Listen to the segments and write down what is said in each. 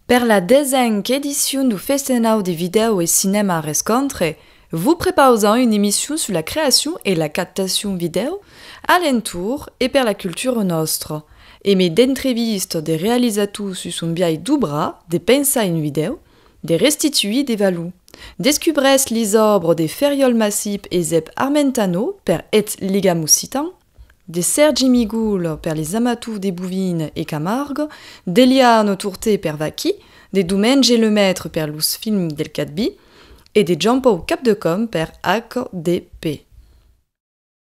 Per la desenc edicion du Festenau de Vidèo e Cinèma Rescontre, vos prepausam una emission sus la creacion e la captacion vidèo a l'entorn e per la cultura nòstra, e mai d'entrevistas de realizators sus son biais d'obrar, de pensar un vidèo, De restituir de valor. Descubrèsc les òbres de Ferriòl Massip e Zèb Armentano per Eth Ligam Occitan, de Sèrgi Migul per Les Amateurs de Bouvines et Camargue, d'Eliane Tourté per Vaquí, de Domènge Lemètre per Los Films del Cadbi e de Jean-Pau Capdecòm per HDP.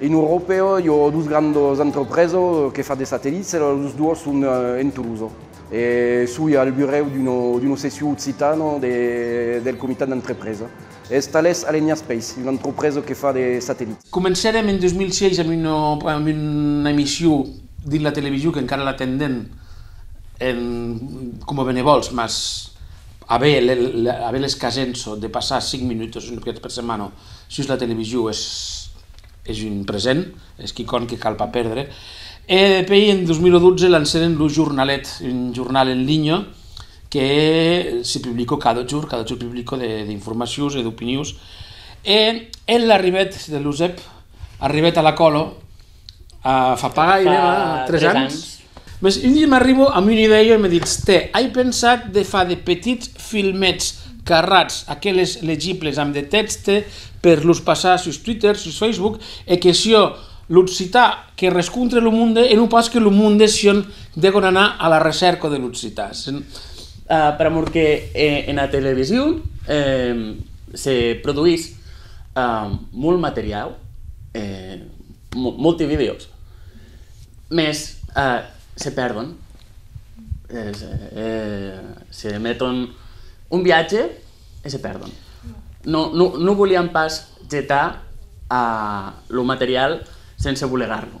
En Euròpa, i a dos grandas entrepresas que fan de satelits, los dos son en Tolosa. E soi al burèu d'una seccion occitana del comitat d'entrepresa. Es Thales Alenia Space, una entrepresa que fa de satellits. Comencèrem en 2006 amb una amb una emission dins la television qu'encara la tendèm en coma benevòls mas aver le le aver l'escasença de passar 5 minutas un còp per setmana sus la television es es un present, es quicòm que cal pas pèrdre e depei en 2012 lancèrem lo jornalet, un jornal en linha que se publico cada jorn, cada jorn publico de d'informacions e d'opinions, e el arribèt de l'USEP, arribèt a la còlo, a fa pas gaire, fa 3 ans, mès un di m'arribo amb una idèia e me ditz, tè, ai pensat de far de petits filmets carrats, aqueles legibles amb de tèxte, per los passar sus Twitter, sus Facebook, e que siá l'occitan que rescontre lo monde e non pas que lo monde siá Degon anar a la recèrca de l'occitan, per amor que ena television se produís molt materiau, molti videos, mès se pèrdon, se meton un viatge e se pèrdon. Non voliam pas getar lo materiau sense bolegar-lo.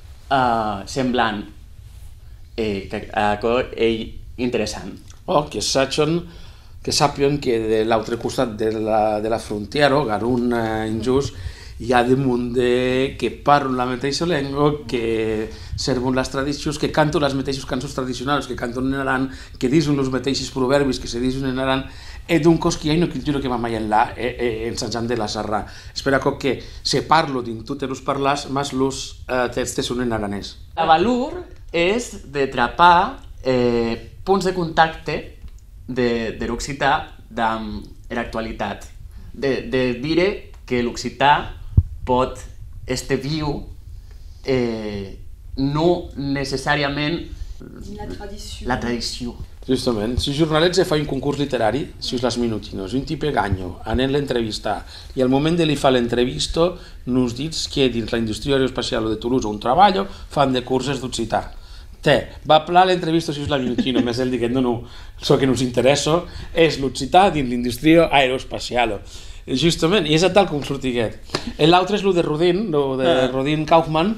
semblant e aquò ei interessant. Ò que sajon, que sapion que de l'autre costat de la frontièra, ò garon enjós, i a de monde que parlon la meteissa lenga, que servon las tradicions, que canton las meteissas cançons tradicionalas que canton en Aran, que dison los meteisses provèrbis que se dison en Aran e doncas qu'i a una cultura que va mai enlà e ensajant de la sarrar. Es per aquò que se parlo dins totes los parlars mas los tèxtes son en aranés. La valor es de trapar e ponts de contacte der occitan damb era actualitat, de dire que l'occitan pòt èster viu e non necessàriament. la tradicion. Justament, si jornaletge fa un concurs literari sus las minutinos, un tipe ganho anent l'entrevistar e al moment de li far l'entrevista nos ditz que dins la industria aeroespaciala de Toulouse ont trabalha fan de curses d'occitan. Te, va plan l'entrevista sus la minutino, mès el diguèt, non, non, çò que nos interèssa es l'occitan dins l'industria aeroespaciala. Justament, e es atal com sortiguèt. E l'autre es lo de Rodin, lo de Rodin Kaufmann.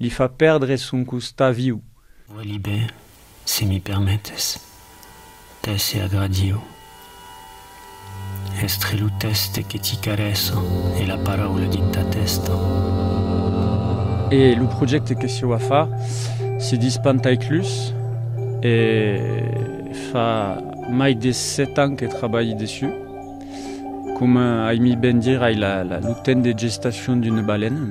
Li fa pèrdre son costat viu. Welibè, se mi permetes, tè se agradiu èstre lo tèste que ti carèssa e la paraula dins ta tèsta. E lo projècte que sieu a far se dis Pantaiclus e fa mai de sèt ans que trabalhi dessus. Coma ai mi ben dire, ai lo temps de gestacion d'una balena.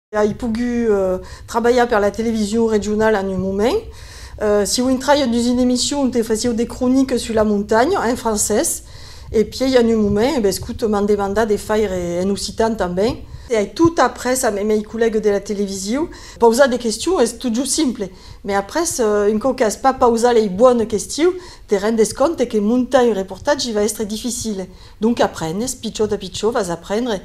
Ai pogut trabalhar per la television regionala en un moment. Sieu intraiat dus una emission onte fasieu de croniques sus la montanha, en francés, e pièi en un moment e bescut m'an demandat de faire en occitan tanben. Ai tot après a mei collègues de la television, pausar de questions es totjorn simple, mai après, un còp qu'as pas pausat lei bones questions, te rendes compte que montar un reportatge va èstre dificile. Donc aprenhes, pichòt a pichòt vas aprendre,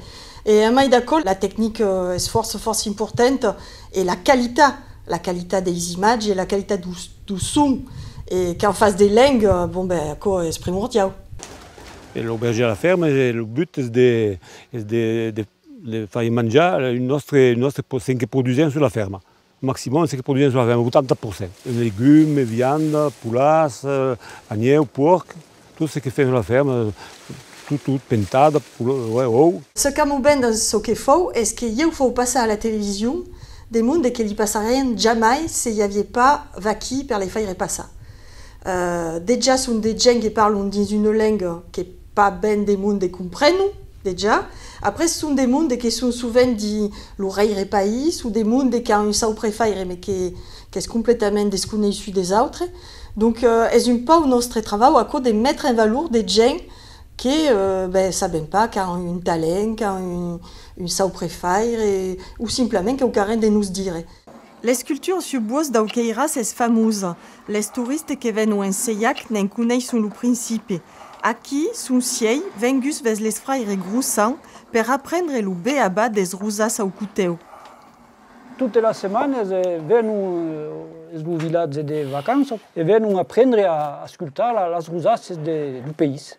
E a mai d'aquò, la tecnica es fòrça fòrça importanta e la qualitat, la qualitat deis imatges e la qualitat dau, dau son e qu'en fas de leng, bon ben aquò es primordiau. E lo berger a la ferma, e lo but es de, es de, de, de fai manjar un nòstre, un nòstre, çò que produsèm sus la ferma. Maximum se que produian sus la ferma, 80 per cent. Legumes, vianda, poulars, anieu, puòrc, tot se que fèm sus la ferma, tot, tot, pentada, ou. Ce qu'amò ben dens çò que fòu es que ieu fòu passar a la television de monde que li passarien jamai se i avié pas vaquí per les faire passar. Dejà son de gents que parlon dins una lenga que. Pas ben de monde compreno, dejà. Après son de monde que son sovent dins lo rèire país o de monde qu'a un sauprefaire me que qu'es completament desconeissut des autres. Donc es un pauc nòstre travau aquò de metre en valor de gents que ben sabem pas qu'a un talent, qu'a un un sauprefaire o simplament que'u carren de nos dire. L'esculture sus buòs dau Queiràs es famosa, les touriste que vèn au Ensejac ne'n coneisson lo principi. Aquí son sièi venguts ves les fraire Groussan per aprendre lo beabà des rosas au cotèu. Totes las setmanes venon, es lo vilatge de vacança, e venon aprendre a ascultar las rosas de, du país.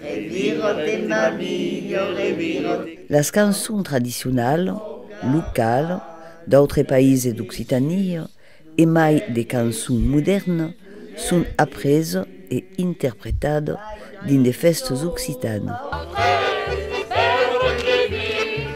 Reviròt en ma milho reviròt. Las cançons tradicionalas, localas, d'autres païses d'Occitania, e mai de cançons modèrnas, son apresas e interpretadas dins de fèstas occitanas.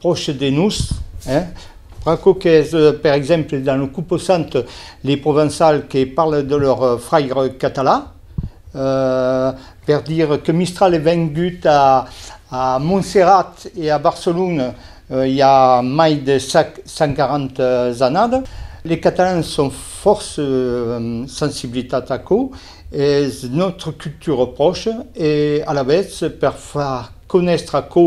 pròche de nos, eh? Pr'aquò qu'es, per exemple, dans lo composant, les Provençals que parlent de lor fraire català, eh, per dire que Mistral es vengut a, a Montserrat e a Barcelona i a mai de 140 annadas. Les Catalans son fòrça sensibilitat a aquò, es nòstra cultura pròcha e alavetz per far conèstre aquò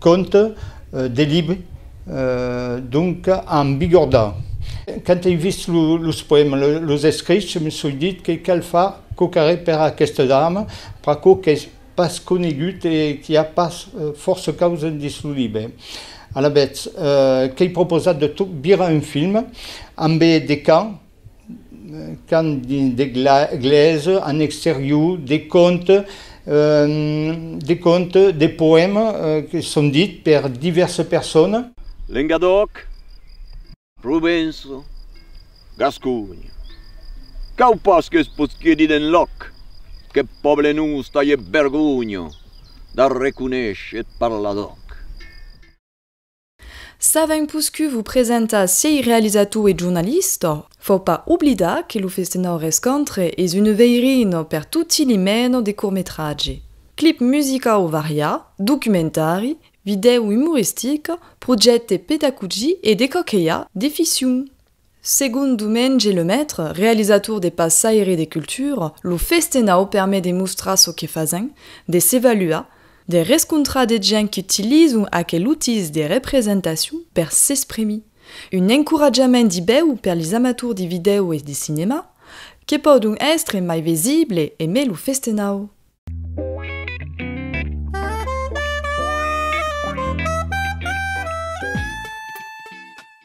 Compte de lib. Donc a embigordar. Quand ei vist los poèmas, los escrichs, je me soi dit que cal far quò qu'arrè per aqueste drama, pr'aquò qu'es pas conegut e qu'i a pas fòrça causa dins lo libre. Alavetz, qu'ei proposat de tot virar un film, ambe de cant, Can de glèse en exterior, de conte, de conte, de poèma que son dit per divèrsa persona. Lengadòc, Provença, Gasconha. Cau pas qu'es posqui dit enlòc qu'eth pòble nòs talhe vergonha d'arreconéisher eth parladòc. S'avèm poscut vos presentar siei realizator e jornalista, fò pas oblidar que lo Festenau Rescontre es un veirin per toti li mena de cortmetratge, clip musicau varià, documentari, vidèu umoristic, projècte pedagogic e de quauquelha de ficcion. Segon Dumenge Lemaitre, realizator de Passaire de cultura, lo festenau permet de mostrar çò que fasèm, de s'evaluar, de rescontrar de gents qu'utilizon aquel utís de representacion per s'exprimir. Un encoratjament dibèu per les amators de vidèo e de cinèma, que pòdon èstre mai visible e mai lo festenau.